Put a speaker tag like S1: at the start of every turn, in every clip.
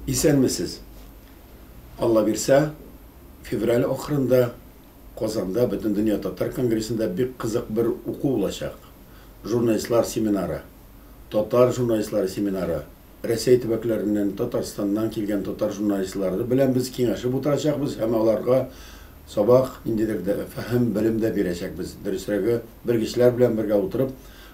S1: Исәнмесез! Алла бирсә, февраль ахырында Казанда Бөтендөнья татар конгрессында бик кызык бер уку булачак. Журналистлар семинары, татар журналистлары семинары Рәсәй төбәкләреннән, Татарстаннан килгән татар журналистлары белән без киңәшеп утырачакбыз һәм аларга сабак, ниндидер фәһем, белем дә бирәчәкбез. Дөресрәге, белгечләр белән бергә утырып,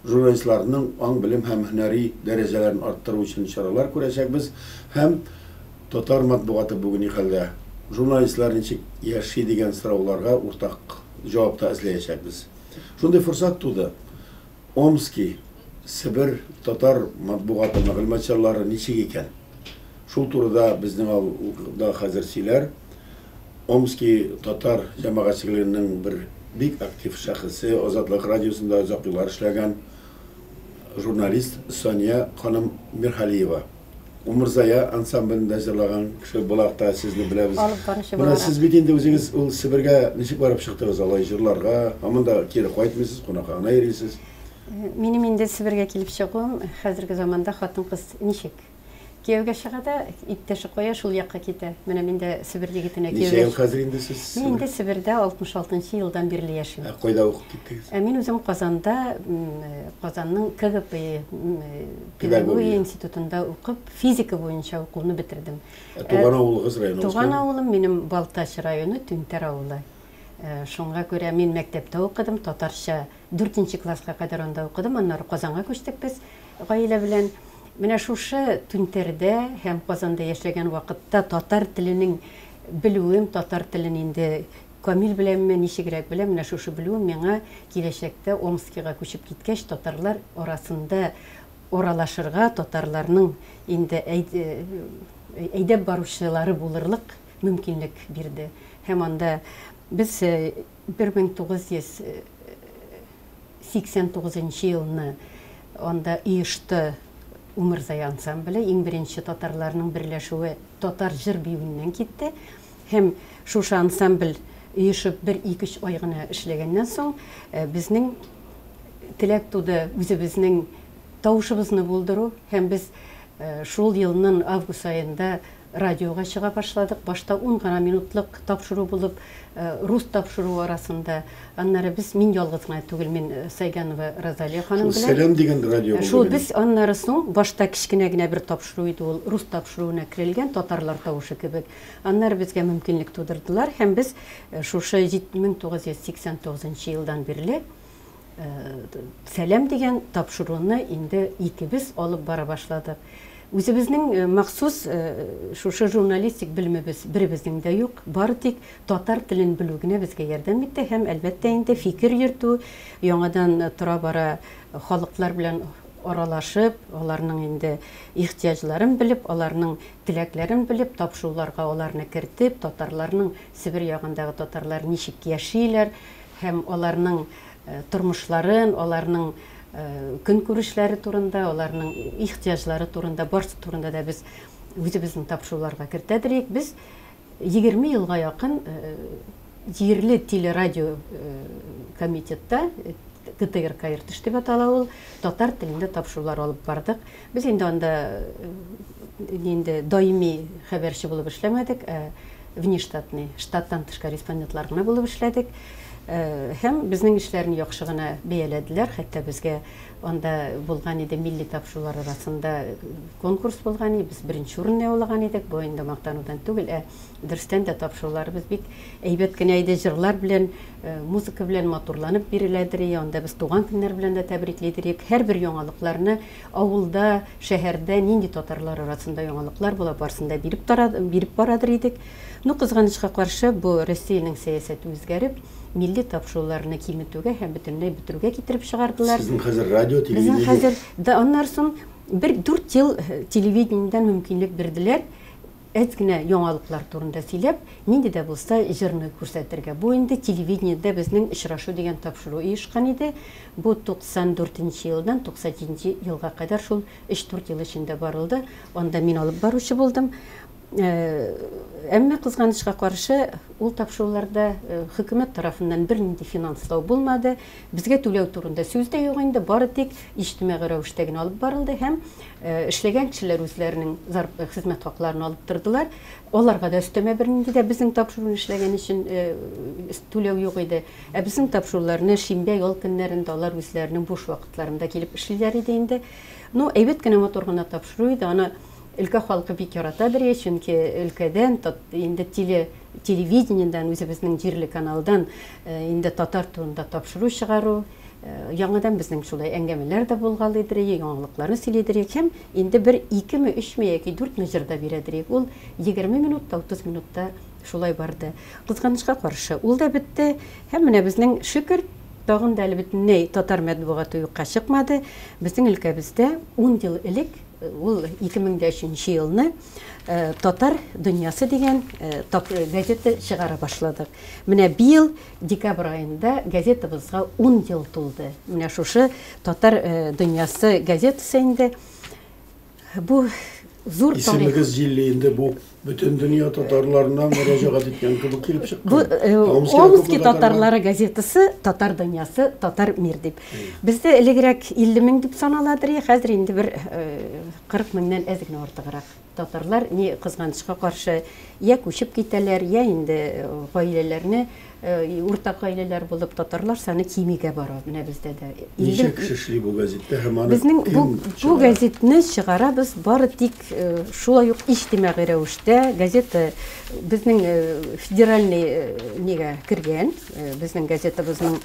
S1: журналистларның аң-белем һәм һөнәри дәрәҗәләрен арттыру өчен чаралар күрәчәкбез һәм Татар матбугаты бүген ни хәлдә? Журналистлар ничек яши дигән сорауларга уртак җавап та эзләячәкбез. Шундый форсат туды. Омски, Себер татар матбугаты мәгълүмат чарлары ничек икән? Шул турыда безнең авылда хәзер сөйләр. Омски татар җәмәгатьчелегенең бер бик актив шәхесе, Азатлык радиосында озак еллар эшләгән журналист Сания ханым Мирхалиева. Умырзая ансамблендә җырлаган кеше буларак та сезне беләбез. Алып баручы Менә сез бит инде үзегез ул Себергә ничек барып чыктыгыз алай җырларга? Һаман да кире кайтмыйсыз, кунакка гына йөрисез. Минем инде
S2: Себергә килеп чыгуым хәзерге заманда хатын-кыз ничек? Кияүгә чыга да, иптәше кая, шул якка китә. Менә мин дә Себер егетенә кияүгә Ничә ел хәзер инде сез?
S1: Мин инде Себердә 66
S2: нчы елдан бирле яшим. Ә кайда укып киттегез?
S1: Ә мин үзем Казанда,
S2: Казанның КГПИ Педагогия институтында укып, физика буенча укуны бетердем. Ә туган авылыгыз районы?
S1: Туган авылым минем
S2: Балтач районы, Түнтәр авылы. Шуңа күрә мин мәктәптә укыдым, татарча дүртенче класска кадәр анда укыдым, аннары Казанга күчтек без гаилә белән. Менә шушы Түнтәрдә һәм Казанда яшәгән вакытта татар теленең белүем, татар телен инде Камил беләнме, ничегрәк беләм, менә шушы белүем миңа киләчәктә Омскига күчеп киткәч, татарлар арасында аралашырга, татарларның инде әйдәп баручылары булырлык мөмкинлек бирде. Һәм анда без 1989 нчы елны анда оешты Умырзая ансамбле, иң беренче татарларның берләшүе татар җыр-биюеннән китте. Һәм шушы ансамбль оешып бер икөч ай гына эшләгәннән соң, безнең теләк туды үзебезнең тавышыбызны булдыру һәм без шул елнын август аенда радиога чыга башладык. Башта ун гына минутлык тапшыру булып, рус тапшыруы арасында, аннары без, мин ялгыз гына түгел, мин Сайганова Розалия ханым белән. Шул Сәләм дигән радио булды.
S1: Шул без аннары
S2: соң башта кечкенә генә бер тапшыру иде ул, рус тапшыруына керелгән, татарлар тавышы кебек. Аннары безгә мөмкинлек тудырдылар һәм без шушы 1989 нчы елдан бирле Сәлам дигән тапшыруны инде икебез алып бара башладык. Үзебезнең махсус шушы журналистик белемебез беребезнең дә юк, бары тик татар телен белү генә безгә ярдәм итте һәм, әлбәттә инде, фикер йөртү, яңадан тора-бара халыклар белән аралашып, аларның инде ихтыяҗларын белеп, аларның Теләкләрен белеп, тапшуларга аларны кертеп, татарларның Себер ягындагы татарлар ничек яшиләр һәм аларның тормышларын, аларның көнкүрешләре турында, аларның ихтыяҗлары турында, барсы турында да без үзебезнең тапшуларга кертәдер идек. Без Егерме елга якын җирле телерадио комитетта, КТРК Иртеш дип атала ул, татар телендә тапшырулар алып бардык. Без инде анда инде даими хәбәрче булып эшләмәдек, ә внештатный, штаттан тыш корреспондентлар гына булып эшләдек. Һәм безнең эшләрне яхшы гына бәяләделәр, хәтта безгә Анда булган иде милли тапшырулар арасында конкурс булган иде, без беренче урынны яулаган идек. Бу инде мактанудан түгел, ә дөрестән дә тапшыруларыбыз бик әйбәт кенә иде, җырлар белән, э, музыка белән матурланып биреләдер, и анда без туган көннәр белән дә тәбриклидер идек. Һәрбер яңалыкларны авылда, шәһәрдә нинди татарлар арасында яңалыклар була, барысын да биреп тара, биреп барадыр идек. Ну, кызганычка каршы, бу Россиянең сәясәте үзгәреп, милли тапшыруларны киметүгә һәм бөтенләй бетерүгә китереп чыгардылар. Сезнең хәзер радио, телевидение?
S1: Безнең хәзер, да аннар
S2: соң бер дүрт ел телевидениедән мөмкинлек бирделәр, әз генә яңалыклар турында сөйләп, нинди дә булса җырны күрсәтергә. Бу инде телевидениедә безнең очрашу дигән тапшыру оешкан иде. Бу 94 нче елдан 97 нче елга кадәр шул өч-дүрт ел эчендә барылды. Анда мин алып баручы булдым. Әмма, кызганычка каршы, ул тапшыруларда хөкүмәт тарафыннан бернинди финанслау булмады. Безгә түләү турында сүз дә юк инде, бары тик иҗтимагый рәвештә генә алып барылды һәм эшләгән кешеләр үзләренең хезмәт хакларын алып тордылар. Аларга да өстәмә бернинди дә безнең тапшыруны эшләгән өчен түләү юк иде. Ә безнең тапшыруларны шимбә, ял көннәрендә алар үзләренең буш вакытларында килеп эшлиләр иде инде. Ну, әйбәт кенә, матур гына тапшыру иде. Аны Өлкә халкы бик ярата бирә, чөнки өлкәдән, инде теле, телевидениедән, үзебезнең җирле каналдан инде татар турында тапшыру чыгару, яңадан безнең шулай әңгәмәләр дә булгалый дириек, яңалыкларны сөйли дириек һәм инде бер икеме, өчме яки дүртме җыр да бирә дириек. Ул егерме минут та, утыз минут та шулай барды. Кызганычка каршы, ул да бетте һәм менә безнең Шөкер тагын да әле бөтенләй татар матбугаты юкка чыкмады. Безнең өлкәбездә ун ел элек Ул 2003 елны Татар дөньясы дигән газета чыгара башладык. Менә быел декабрь аенда газетабызга 10 ел тулды. Менә шушы Татар дөньясы газетасы инде бу зур тарих. Исемегез җилле инде бу.
S1: Бөтен дөнья татарларына мөрәҗәгать иткән кебек килеп чыкты. Бу э, Омски
S2: татарлары газетасы Татар дөньясы, Татар мир дип. Бездә элегрәк 50 мең дип санала дирә, хәзер инде бер 40 э, меңнән әз генә артыграк. Татарлар ни кызганычка каршы, я күчеп китәләр, я инде э, гаиләләрне Уртак гаиләләр булып татарлар саны кимегә бара менә бездә дә. Ничә кеше эшли бу
S1: газеттә һәм аны Безнең бу, бу
S2: газетны чыгарабыз бары тик шулай ук иҗтимагый рәвештә. Газета безнең федеральный нигә кергән, безнең газетабызның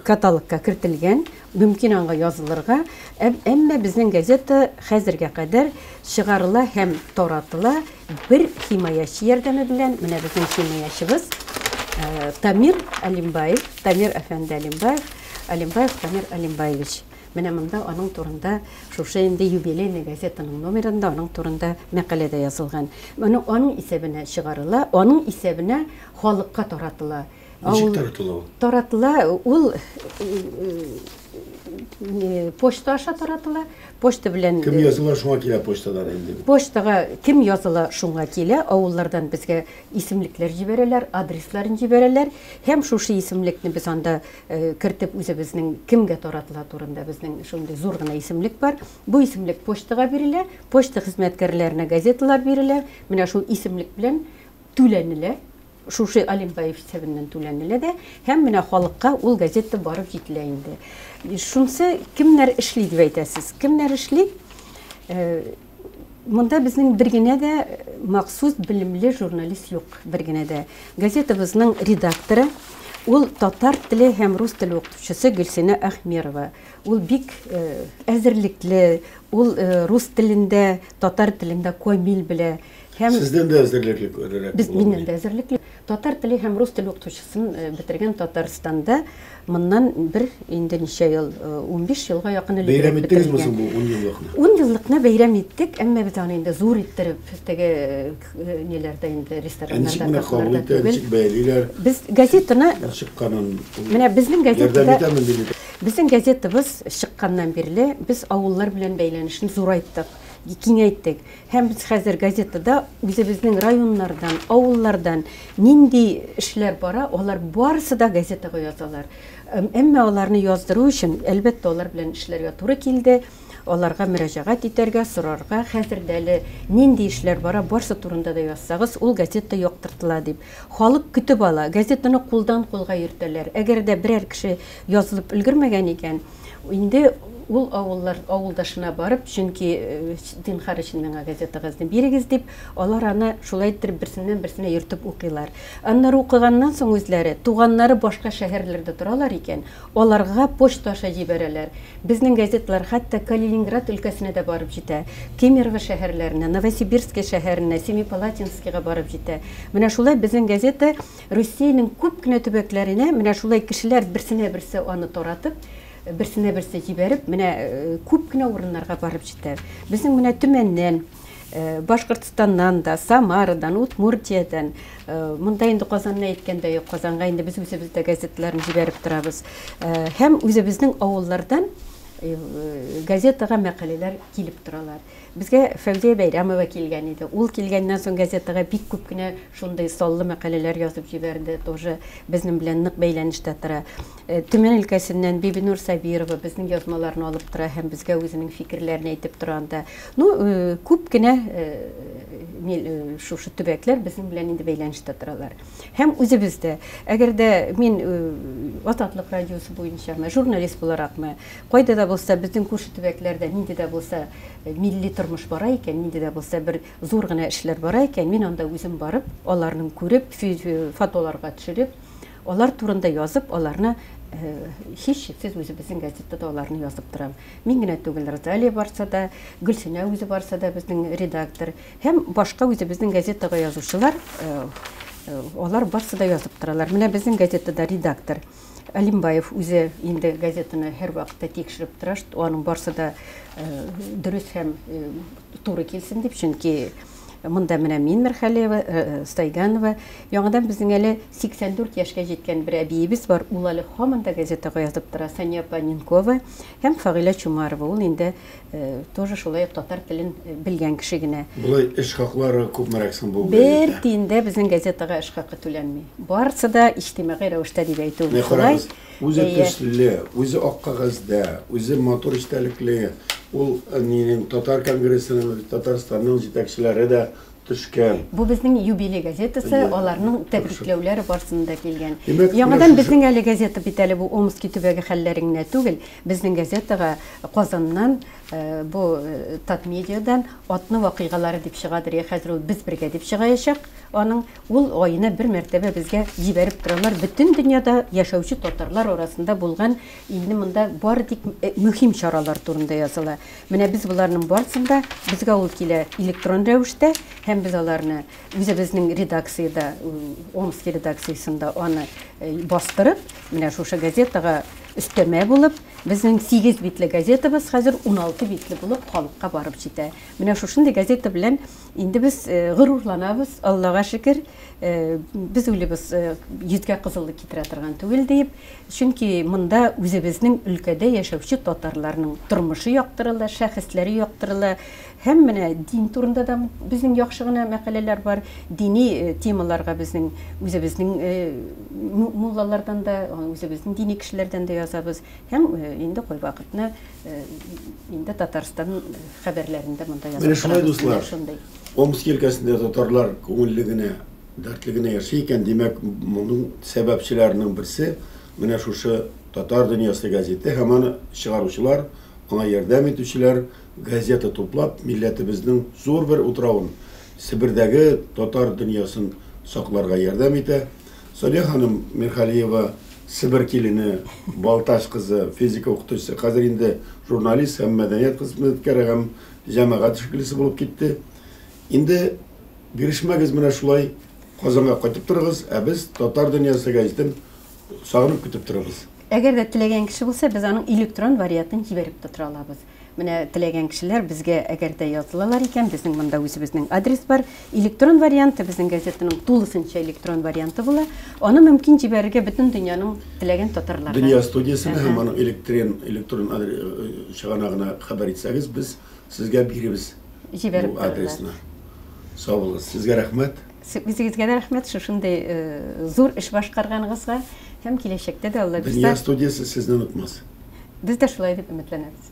S2: каталогка кертелгән. Мөмкин аңа язылырга, әмма безнең газета хәзергә кадәр чыгарыла һәм таратыла бер химаячы ярдәме белән, менә безнең химаячыбыз Тамир Алимбаев, Тамир әфәнде Алимбаев, Алимбаев Тамир Алимбаевич. Менә монда аның турында шушы инде юбилейный газетаның номерында аның турында мәкалә дә язылган. Моны аның исәбенә чыгарыла, аның исәбенә халыкка таратыла. Ничек таратыла ул? Таратыла ул почта аша таратыла. Почта белән Кем языла, шуңа килә
S1: почтадан инде. Почтага кем
S2: языла, шуңа килә. Авыллардан безгә исемлекләр җибәрәләр, адресларын җибәрәләр. Һәм шушы исемлекне без анда кертеп үзебезнең кемгә таратыла турында безнең шундый зур гына исемлек бар. Бу исемлек почтага бирелә, почта хезмәткәрләренә газеталар бирелә. Менә шул исемлек белән түләнелә, шушы Алимбаев исәбеннән түләнелә дә, һәм менә халыкка ул газета барып җителә инде. Шунсы кемнәр эшли дип әйтәсез? Кемнәр эшли? Э, монда безнең бер генә дә махсус белемле журналист юк, бер генә дә. Газетабызның редакторы Ул татар теле һәм рус теле укытучысы Гөлсенә Ахмерова. Ул бик э, әзерлекле, ул э, рус телендә, татар телендә камил белә. Һәм Сездән дә
S1: әзерлекле күрерәк. Без миннән дә әзерлекле.
S2: Татар теле һәм рус теле укытучысын э, бетергән Татарстанда моннан бер инде ничә ел, 15 э, елга якын элек. Бәйрәм иттегезме соң бу 10
S1: еллыкны? 10 еллыкны бәйрәм
S2: иттек, әмма без аны инде зур иттереп теге э, ниләрдә инде рестораннарда кафеларда түгел. Бәйлиләр.
S1: Без газетаны
S2: чыкканын.
S1: Менә безнең
S2: газетада Безнең газетабыз чыкканнан бирле без авыллар белән бәйләнешне зурайттык киңәйттек. Һәм без хәзер газетада үзебезнең районнардан, авыллардан нинди эшләр бара, алар барысы да газетага язалар. Әмма аларны яздыру өчен, әлбәттә, алар белән эшләргә туры килде. Аларга мөрәҗәгать итәргә, сорарга, хәзер дә әле нинди эшләр бара, барсы турында да язсагыз, ул газета яктыртыла дип. Халык көтеп ала, газетаны кулдан-кулга йөртәләр. Әгәр дә берәр кеше язылып өлгермәгән икән, Инде ул авыллар авылдашына барып, чөнки зинхар өчен миңа газетагызны бирегез дип, алар аны шулай иттереп берсеннән берсенә йөртеп укыйлар. Аннары укыганнан соң үзләре, туганнары башка шәһәрләрдә торалар икән, аларга почта аша җибәрәләр. Безнең газеталар хәтта Калининград өлкәсенә дә барып җитә, Кемерово шәһәрләренә, Новосибирское шәһәренә, Семипалатинскига барып җитә. Менә шулай безнең газета Русиянең күп кенә төбәкләренә менә шулай кешеләр берсенә-берсе аны таратып, берсенә-берсе җибәреп, менә күп кенә урыннарга барып җитә. Безнең менә Төмәннән, Башкортстаннан да, Самарадан, Удмуртиядән, монда инде Казанны әйткәндә юк, Казанга инде без үзебез дә газеталарны җибәреп торабыз. Һәм үзебезнең авыллардан газетага мәкаләләр килеп торалар. Безгә Фәүзия Бәйрәмова килгән иде. Ул килгәннән соң газетага бик күп кенә шундый саллы мәкаләләр язып җибәрде. Тоже безнең белән нык бәйләнештә тора. Э, Төмән өлкәсеннән Бибинур Сабирова безнең язмаларны алып тора һәм безгә үзенең фикерләрен әйтеп тора анда. Ну, э, күп кенә э, Э, шушы төбәкләр безнең белән инде бәйләнештә торалар һәм үзебез дә әгәр дә мин э, азатлык радиосы буенчамы журналист буларакмы Кайда да булса, безнең күрше төбәкләрдә нинди дә булса милли тормыш бара икән, нинди дә булса бер зур гына эшләр бара икән, мин анда үзем барып, аларның күреп, фотоларга төшереп, алар турында язып, аларны һичшиксез үзебезнең газетта да аларны язып торам. Мин генә түгел, Розалия барса да, Гөлсинә үзе барса да безнең редактор һәм башка үзебезнең газетага язучылар, алар барсы да язып торалар. Менә безнең газетада редактор. Алимбаев үзе инде газетаны һәрвакытта тикшереп тора, аның барсы да дөрес һәм туры килсен дип, чөнки Монда менә мин Мирхәлиева, э, э, Стайганова. Яңадан безнең әле 84 яшькә җиткән бер әбиебез бар. Ул әле һаман да газетага язып тора. Сания Паненкова һәм Фагыйлә Чумарова. Ул инде Э, тоже шулай ук татар телен э, белгән кеше генә болай эш хаклары
S1: күпмерәк соң бу бер тиен дә безнең
S2: газетага эш хакы түләнми барысы да иҗтимагый рәвештә дип әйтү шулай үзе
S1: төсле үзе ак кагазьдә үзе матур эчтәлекле ул э, минем татар конгрессының татарстанның җитәкчеләре дә Төшкән. Бу безнең юбилей
S2: газетасы, аларның тәбрикләүләре барсында килгән. Яңадан безнең әле газета бит әле бу Омски төбәге хәлләре генә түгел, безнең газетага Казаннан бу Татмедиадан атны вакыйгалары дип чыгадыр, я хәзер ул без бергә дип чыгаячак аның, ул аена бер мәртәбә безгә җибәреп торалар, бөтен дөньяда яшәүче татарлар арасында булган илне монда бары тик мөһим чаралар турында языла. Менә без боларның барысын да, безгә ул килә электрон рәвештә, һәм без аларны үзебезнең редакциядә, Омски редакциясендә аны э, бастырып, менә шушы газетага өстәмә булып, безнең 8 битле газетабыз хәзер 16 битле булып халыкка барып җитә. Менә шушындый газета белән инде без э, горурланабыз, Аллага шөкер, э, без уйлыйбыз, йөзгә кызыллык китерә торган түгел диеп, Чөнки монда үзебезнең өлкәдә яшәүче татарларның тормышы яктырыла, шәхесләре яктырыла. Һәм менә дин турында да безнең яхшы гына мәкаләләр бар. Дини темаларга безнең үзебезнең муллалардан да, үзебезнең дини кешеләрдән дә язабыз. Һәм инде кайвакытны инде Татарстан хәбәрләрен дә монда язабыз. Менә шулай, дуслар.
S1: Омск өлкәсендә татарлар күңелле генә. Дәртле генә яши икән, димәк, моның сәбәпчеләренең берсе менә шушы Татар дөньясы газеты һәм аны чыгаручылар, аңа ярдәм итүчеләр, газета туплап, милләтебезнең зур бер утравын, Себердәге татар дөньясын сакларга ярдәм итә. Салия ханым Мирхалиева, Себер килене, Балтач кызы, физика укытучысы, хәзер инде журналист һәм мәдәният хезмәткәре һәм җәмәгать эшлеклесе булып китте. Инде бирешмәгез менә шулай Казанга кайтып торыгыз, ә без Татар дөньясы гәҗитен сагынып көтеп торабыз. Әгәр дә теләгән
S2: кеше булса, без аның электрон вариатын җибәреп тә тора алабыз. Менә теләгән кешеләр безгә әгәр дә язылалар икән, безнең монда үзебезнең адрес бар. Электрон варианты безнең газетаның тулысынча электрон варианты була. Аны мөмкин җибәрергә бөтен дөньяның теләгән татарларына. Дөнья студиясенә һәм
S1: аның электрен электрон чыганагына хәбәр итсәгез, без Сезгә биребез. Җибәреп бу адресны. Саулыгыз. Сезгә рәхмәт. Үзегезгә дә рәхмәт
S2: шушындый э, зур эш башкарганыгызга һәм
S1: киләчәктә
S2: дә Алла бирсә. Дөнья
S1: студиясе
S2: сезне онытмас. Без дә
S1: шулай дип
S2: өметләнәбез.